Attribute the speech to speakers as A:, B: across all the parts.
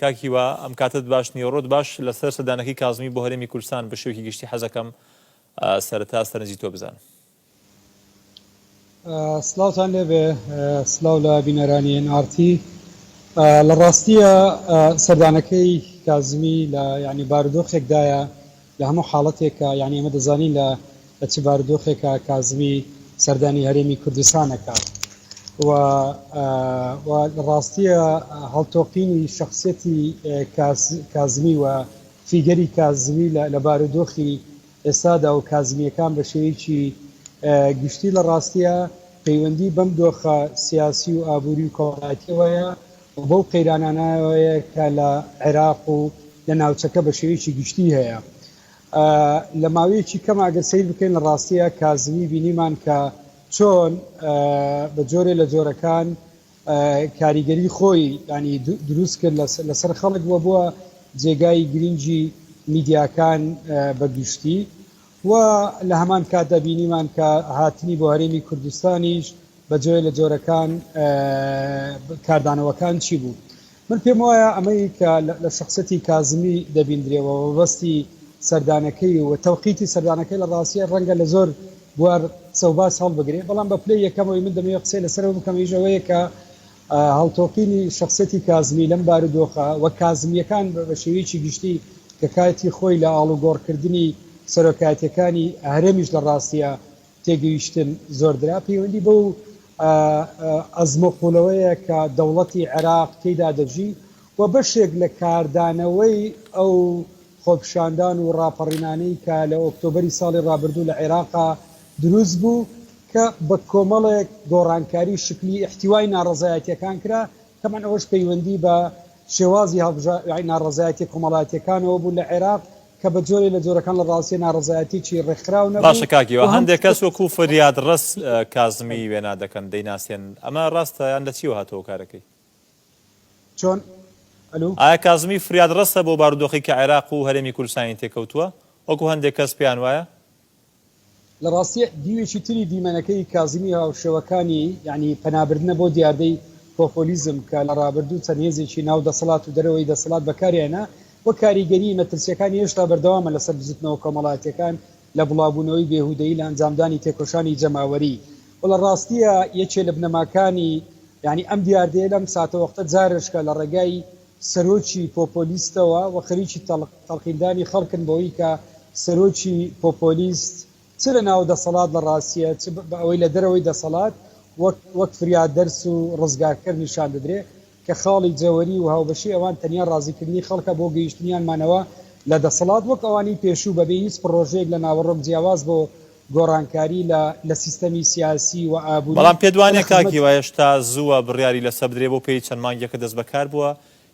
A: کاک هیوا ئەم کاتەت باش نیە و ڕۆت باش لەسەر سەردانەکەی کازمی بۆ هەرێمی کوردستان بە شێوەکی گشتی حەزەکەم سەرەتا سەرنجی تۆ بزانم.
B: سلاوتان لێبێ سلاو لە بینەرانی ئێن ئار تی لە ڕاستیە سەردانەکەی کازمی لە یانی بارودۆخێکدایە لە هەموو حاڵەتێکا یانی ئێمە دەزانین لە لە چ بارودۆخێکا کازمی سەردانی هەرێمی کوردستان ئەکات و و لە ڕاستیە هەڵتۆقینی شەخسیەتی کازمی و فیگەری کازمی لە لە بارودۆخی ئێستادا و کازمیەکان بە شێوەیەکی گشتی لە ڕاستیە پەیوەندی بەم دۆخە سیاسی و ئابووری و کۆمەڵایەتیەوەیە و بەو قەیرانانەوەیە کە لە عێراق و لە ناوچەکە بە شێوەیەکی گشتی هەیە لە ماوەیەکی کەما گەر سەیر بکەین لە ڕاستیە کازمی بینیمان کە چۆن بە جۆرێ لە جۆرەکان کاریگەری خۆی ینی دروست کرد لەسەر خەڵک وە بووە جێگای گرنگی میدیاکان بە گشتی و لە هەمان کاتدا بینیمان کە هاتنی بۆ هەرێمی کوردستانیش بە جۆێ لە جۆرەکان کاردانەوەکان چی بوو؟ من پێم وایە ئەمەی کە لە شەخسیەتی کازمی دەبیندرێ و مەبەستی سەردانەکەی و تەوقیتی سەردانەکەی لە ڕاستیە ڕەنگە لە زۆر بوار قسە و باس هەڵبگرێ بەڵام بە پلەی یەکەمەوەی من دەمەوێ قسەی لە سەرەوە بکەم ئەویش ئەوەیە کە هەڵتۆقینی شەخسیەتی کازمی لەم بارودۆخە وەک کازمییەکان بە شێوەیەکی گشتی کە کاتی خۆی لە ئاڵوگۆڕ کردنی سەرۆکایەتیەکانی هەرێمیش لە ڕاستیا تێگەیشتن زۆردرا پەیوەندی بەو ئەزمە قوڵەوەیە کە دەوڵەتی عێراق تێیدا دەژی و بەشێک لە کاردانەوەی ئەو خۆپیشاندان و ڕاپەڕینانەی کە لە ئۆکتۆبەری ساڵی ڕابردوو لە عێراقا دروست بوو کە بە کۆمەڵێک گۆڕانکاری شکلی ئیحتیوای ناڕەزایەتیەکان کرا، تەبعەن ئەوەش پەیوەندی بە شێوازی هەڵبژاردنی ناڕەزایەتیە کۆمەڵایەتیەکانەوە بوو لە عێراق کە بە جۆرێ لە جۆرەکان لە ڕاستیە ناڕەزایەتیەکی ڕێکخراو نەبوو باشە کاک هیوا، و هەم هەندێک کەس
A: وەکو فریادڕەس کازمی وێنا دەکەن، دەیناسێنن، ئەمە ڕاستە یان لە چیەوە هاتووە هۆکارەکەی؟
B: چۆن ئەلو؟
A: ئایا کازمی فریاد ڕەستە بۆ بارودۆخی کە عێراق و هەرێمی کوردستانی تێکەوتووە وەکو هەندێک کەس پێیان وایە؟
B: لە ڕاستیە دیوێکی تری دیمەنەکەی کازمی هاوشێوەکانی یانی پەنابردنە بۆ دیاردەی پۆپۆلیزم کە لە ڕابردوو چەند هێزێکی ناو دەسەڵات و دەرەوەی دەسەڵات بەکاریانهێنا و کاریگەریی مەترسیەکانی هێشتا بەردەوامە لەسەر بزوتنەوە کۆمەڵایەتیەکان لە بڵاوبوونەوەی بێهودەیی لە ئەنجامدانی تێکۆشانی جەماوەری و لە ڕاستیە یەکێ لە بنەماکانی یانی ئەم دیاردەیە لەم ساتەوەختە جارێشکە لە ڕێگای سەرۆکی پۆپۆلیستەوە و خەریکی تەڵقیندانی خەڵکن بەوەی کە سەرۆکی پۆپۆلیست چ لە ناو دەسەڵات لە ڕاستیە چ بە ئەوەی لە دەرەوەی دەسەڵات وەک وەک فریادرس و ڕزگارکەر نیشان دەدرێ کە خاڵی جەوەری و هاوبەشی ئەوان تەنیا ڕازیکردنی خەڵکە بۆ گەیشتنیان مانەوە لە دەسەڵات وەک ئەوانی پێشوو بەبێ هیچ پڕۆژەیەک لە ناوەڕۆک جیاواز بۆ گۆڕانکاری لە لە سیستەمی سیاسی و ئابوری بەڵام پێت وانیە کاک
A: هیوا هێشتا زووە بڕیاری لەسەر بدرێ بۆ پێی چەند مانگێکە دەست بەکار بووە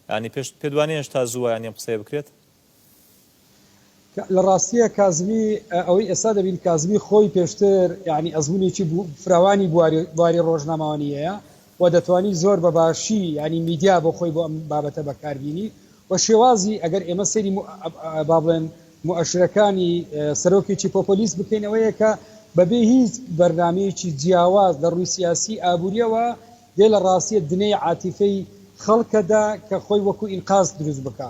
A: یانی پێش پێت وانیە هێشتا زووە یانی ئەم قسەیە بکرێت؟
B: لە ڕاستیە کازمی ئەوەی ئێستا دەبین کازمی خۆی پێشتر یعنی ئەزمونێکی فراوانی بواری ڕۆژنامەوانیەیە و دەتوانی زۆر بە باشی ینی میدیا بۆ خۆی بۆ ئەم بابەتە بەکاربیینی و شێوازی ئەگەر ئێمە سەری با بڵێن مؤشرەکانی سەرۆکێکی پۆپۆلیست بکەینەوەیە کە بەبێ هیچ بەرنمەیەکی جیاواز لە ڕووی سیاسی ئابوووریەوە دێ لە ڕاستیە دنەی عاتیفەی خەڵکەدا کە خۆی وەکو ئینقاز دروست بکە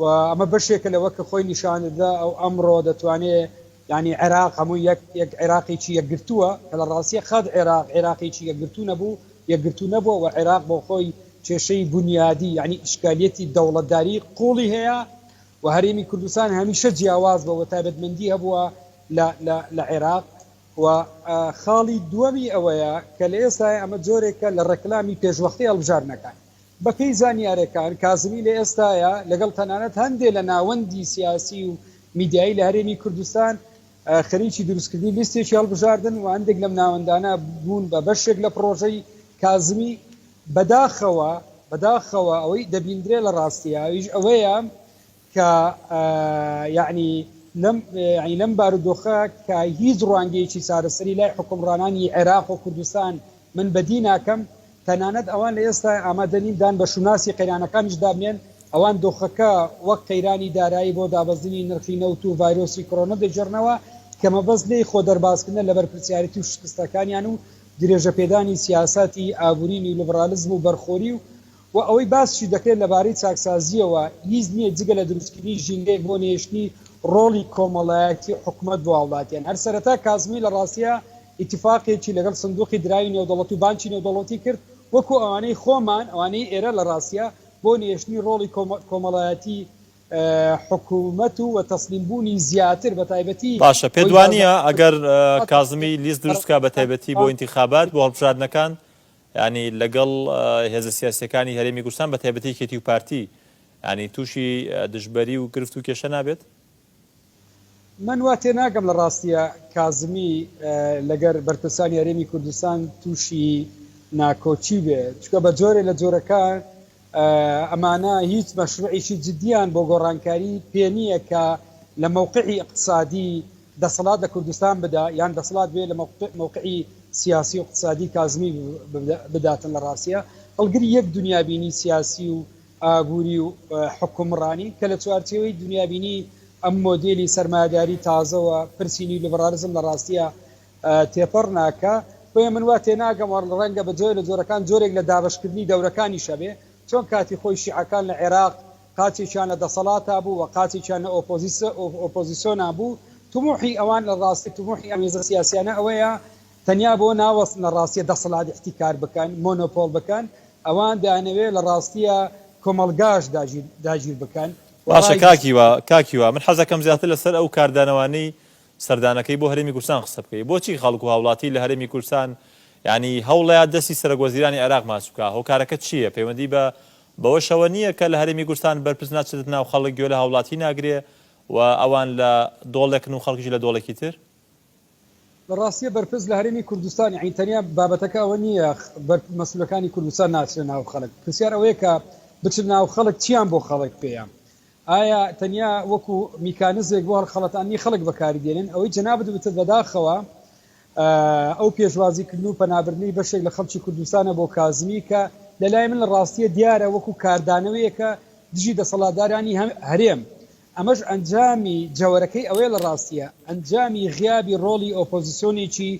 B: و ئەمە بەشێکە لەوە کە خۆی نیشاندەدا ئەو ئەمڕۆ دەتوانێ یانی عێراق هەموو یەک یەک عێراقێکی یەکگرتووە کە لە ڕاستیە قەد عێراق عێراقێکی یەکگرتوو نەبوو یەکگرتوو نەبووە و عێراق بۆ خۆی کێشەی بونیادی یانی ئیشکالیەتی دەوڵەتداری قوڵی هەیە و هەرێمی کوردستان هەمیشە جیاواز بووە و تایبەتمەندی هەبووە لە لە لە عێراق و خاڵی دووەمی ئەوەیە کە لە ئێستای ئەمە جۆرێکە لە ڕێکلامی پێشوەختەی هەڵبژاردنەکان. بە پێی زانیارەکان کازمی لە ئێستایا لەگەڵ تەنانەت هەندێ لە ناوەندی سیاسی و میدیایی لە هەرێمی کوردستان خەریکی دروستکردنی لیستێکی هەڵبژاردن و هەندێک لەم ناوەندانە بوون بە بەشێک لە پڕۆژەی کازمی بەداخەوە بەداخەوە ئەوەی دەبیندرێ لە ڕاستیاویش ئەوەیە کە یەعنی لەم یەعنی لەم بارودۆخە کە هیچ ڕوانگەیەکی چارەسەری لای حوکمڕانانی عێراق و کوردستان من بەدی ناکەم، تەنانەت ئەوان لە ئێستای ئامادە نین دان بە شوناسی قەیرانەکانیشدا بنێن، ئەوان دۆخەکە وەک قەیرانی دارایی بۆ دابەزینی نرخی نەوت و ڤایرۆسی کۆرۆنە دەگێڕنەوە کە مەبەست لێی خۆ دەربازکردنە لە بەرپرسیارێتی و شکستەکانیان و درێژەپێدانی سیاساتی ئابووری نیولیبڕالیزم و بەرخۆری و وە ئەوەی باسیشی دەکرێت لەبارەی چاکسازییەوە هیچ نییە جگە لە دروستکردنی ژینگەیەک بۆ نەهێشتنی ڕۆڵی کۆمەڵایەتی حکومەت بۆ هاوڵاتیان. هەر سەرەتا کازمی لە ڕاستییا ئیتیفاقێکی لەگەڵ سندوقی دراوی نێودەوڵەت و بانکی نێودەوڵەتی کرد وەکو ئەوانەی خۆمان ئەوانەی ئێرە لە ڕاستییا بۆ نەهێشتنی ڕۆڵی کۆمەڵایەتی حکومەت و وە تەسلیم بوونی زیاتر بە تایبەتی باشە پێت وانییە
A: ئەگەر کازمی لیست دروست بکات بە تایبەتی بۆ ئینتیخابات بۆ هەڵبژاردنەکان یانی لەگەڵ هێزە سیاسیەکانی هەرێمی کوردستان بەتایبەتی یەکێتی و پارتی یانی توشی دژبەری و گرفت و کێشە نابێت؟
B: من وا تێناگەم لە ڕاستیە کازمی لەگەر بەرپرسانی هەرێمی کوردستان توشی ناکۆکی بێ چونکە بە جۆرێ لە جۆرەکان ئەمانە هیچ مەشروعیکی جدیان بۆ گۆڕانکاری پێ نییە کە لە مەوقعی ئیقتسادی دەسەڵات لە کوردستان بدا یان دەسەڵات بێ لە مەوقعی سیاسی و ئیقتسادی کازمی بداتن لە ڕاستیا هەڵگری یەک دنیابینی سیاسی و ئابووری و حکومڕانی کە لە چوارچێوەی دنیابینی ئەم مۆدێلی سەرمایەداری تازەوە پرسی نیولیبڕالیزم لە ڕاستیە تێپەڕ ناکا، بۆیە من وا تێناگەم و ڕەنگە بە جۆرێ لە جۆرەکان جۆرێک لە دابەش کردنی دەورەکانیش هەبێ، چۆن کاتی خۆی شیعەکان لە عێراق قاچێکیان لە دەسەڵاتا بوو و قاچێکیان لە ئۆپۆزیسۆنا بوو، تموحی ئەوان لە ڕاستی تموحی ئەم هێزە سیاسیانە ئەوەیە تەنیا بۆ ناوەست لە ڕاستیە دەسەڵات ئیحتیکار بکەن، مۆنۆپۆڵ بکەن، ئەوان دەیانەوێ لە ڕاستیە کۆمەڵگاش داگیر بکەن. باشە کاک هیوا،
A: کاک هیوا من حەزەکەم زیاتر لە سەر ئەو کاردانەوانەی سەردانەکەی بۆ هەرێمی کوردستان قسە بکەی بۆچی خەڵک و هاوڵاتی لە هەرێمی کوردستان یانی هەوڵەیا دەستی سەرەک وەزیرانی عێراق ماچ بکا هۆکارەکە چیە پەیوەندی بە بەوەشەوە نیە کە لە هەرێمی کوردستان بەرپرس ناچێتە ناو خەڵک گوێ لە هاوڵاتی ناگرێ و ئەوان لە دۆڵێکن و خەڵکیش لە دۆڵێکی تر؟ لە
B: ڕاستیە بەرپرس لە هەرێمی کوردستان یانی تەنیا بابەتەکە ئەوە نیە بەر مەسولەکانی کوردستان ناچنە ناو خەڵک پرسیار ئەوەیە کە بچنە ناو خەڵک چیان بۆ خەڵک پێیە ئایا تەنیا وەکو میکانزێک بۆ هەڵخەڵەتاندنی خەڵک بەکاری دێنن؟ ئەوەی جەنابت وتت بەداخەوە ئەو پێشوازی کردن و پەنابردنی بەشێک لە خەڵکی کوردستانە بۆ کازمی کە لە لای من لە ڕاستیە دیارە وەکو کاردانەوەیەکە دژی دەسەڵاتدارانی هەرێم ئەمەش ئەنجامی جەوەرەکەی ئەوەیە لە ڕاستیە ئەنجامی غیابی ڕۆڵی ئۆپۆزسیۆنێکی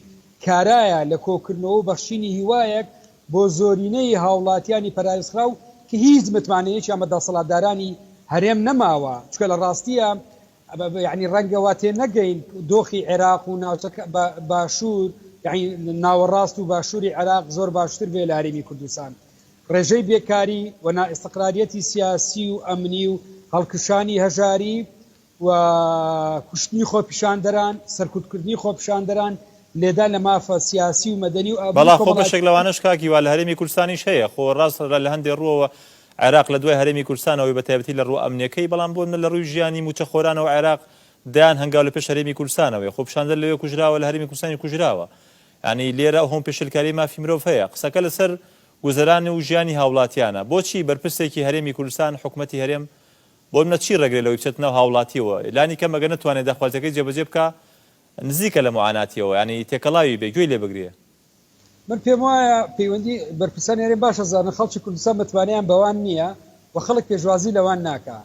B: کارایە لە کۆکردنەوە و بەخشینی هیوایەک بۆ زۆرینەی هاوڵاتیانی پەراوێزخراو کە هیچ متمانەیەکیان بە دەسەڵاتدارانی هەرێم نەماوە، چونکە لە ڕاستیە یەعنی ڕەنگە وا تێنەگەین دۆخی عێراق و ناوچەکە بە باشور یەعنی ناوەڕاست و باشوری عێراق زۆر باشتر بێ لە هەرێمی کوردستان ڕێژەی بێکاری و نائیستقراریەتی سیاسی و ئەمنی و هەڵکشانی هەژاری و کوشتنی خۆپیشاندەران، سەرکوتکردنی خۆپیشاندەران، لێدان لە مافە سیاسی و مەدەنی و ئابووری بەڵا خۆ بەشێک کۆمەڵایەتیەکان. لەوانەش
A: کاک هیوا لە هەرێمی کوردستانیش هەیە، خۆ ڕاست لە لە هەندێ ڕووەوە عێراق لە دوای هەرێمی کوردستانەوەی بە تایبەتی لە ڕووە ئەمنیەکەی، بەڵام بۆ منە لە ڕووی ژیانی مووچەخۆرانەوە عێراق دەیان هەنگاو لە پێش هەرێمی کوردستانەوەیە، خۆ پیشاندەر لەوێ کوژراوە لە هەرێمی کوردستانیش کوژراوە، یانی لێرە هۆم پێشێلکاری مافی مرۆڤ هەیە، قسەکە لە سەر گوزەران و ژیانی هاوڵاتیانە، بۆچی بەرپرسێکی هەرێمی کوردستان حکومەتی هەرێم بۆ نمونە چی ڕێگرێ لەوەی بچێتە ناو هاوڵاتیەوە لانی کەم ئەگەر نەتوانێ داخوازیەکەی جێبەجێ بکا نزیکە لە معاناتیەوە یانی تێکەڵاوی بێ گوێی لێ بگرێ. من پێم
B: وایە پەیوەندی بەرپرسان یارێ باش ئەزانن خەڵکی کوردستان متمانەیان بەوان نیە و خەڵک پێشوازی لەوان ناکا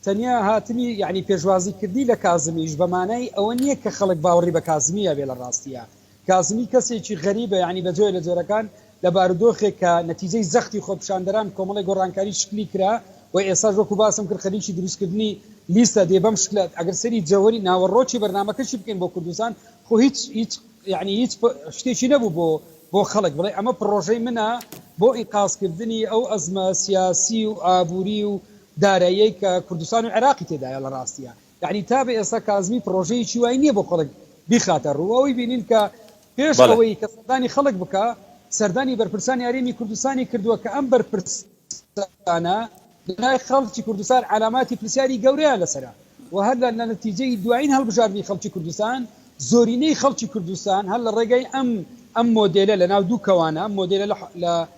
B: تەنیا هاتنی یانی پێشوازی کردنی لە کازمیش بە مانای ئەوە نیە کە خەڵک باوڕی بە کازمی ئەبێ لە ڕاستیا کازمی کەسێکی غەریبە یانی بە جۆرێ لە جۆرەکان لە بارودۆخێک کە نەتیجەی زەختی خۆپیشاندەران کۆمەڵێ گۆڕانکاری شکلی کرا و ئێستاش وەکو باسم کرد خەریکی دروستکردنی لیستە دێ بەم شکلە ئەگەر سەیری جەوەری ناوەڕۆکی بەرنامەکەشی بکەین بۆ کوردستان خۆ هیچ هیچ یانی هیچ شتێکی نەبوو بۆ بۆ خەڵک بڵێ ئەمە پڕۆژەی منە بۆ ئینقازکردنی ئەو ئەزمە سیاسی و ئابوری و داراییەی کە کوردستان و عێراقی تێدایە لە ڕاستیا یەعنی تا بە ئێستا کازمی پڕۆژەیەکی وای نییە بۆ خەڵک بیخاتە ڕوو، ئەوەی بینین کە پێش بەڵێ. ئەوەی کە سەردانی خەڵک بکا سەردانی بەرپرسانی هەرێمی کوردستانی کردووە کە ئەم بەرپرسانە لای خەڵکی کوردستان عەلاماتی پرسیاری گەورەیان لەسەرە و هەر لە نەتیجەی دوایین هەڵبژاردنی خەڵکی کوردستان زۆرینەی خەڵکی کوردستان هەر لە ڕێگای ئەم ئەم مۆدێلە لەناو دوو کەوانە ئەم مۆدێلە لە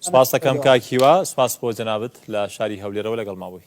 A: سپاست دەکەم کاک هیوا سپاس بۆ جەنابت لە شاری هەولێرەوە لەگەڵ مابووی.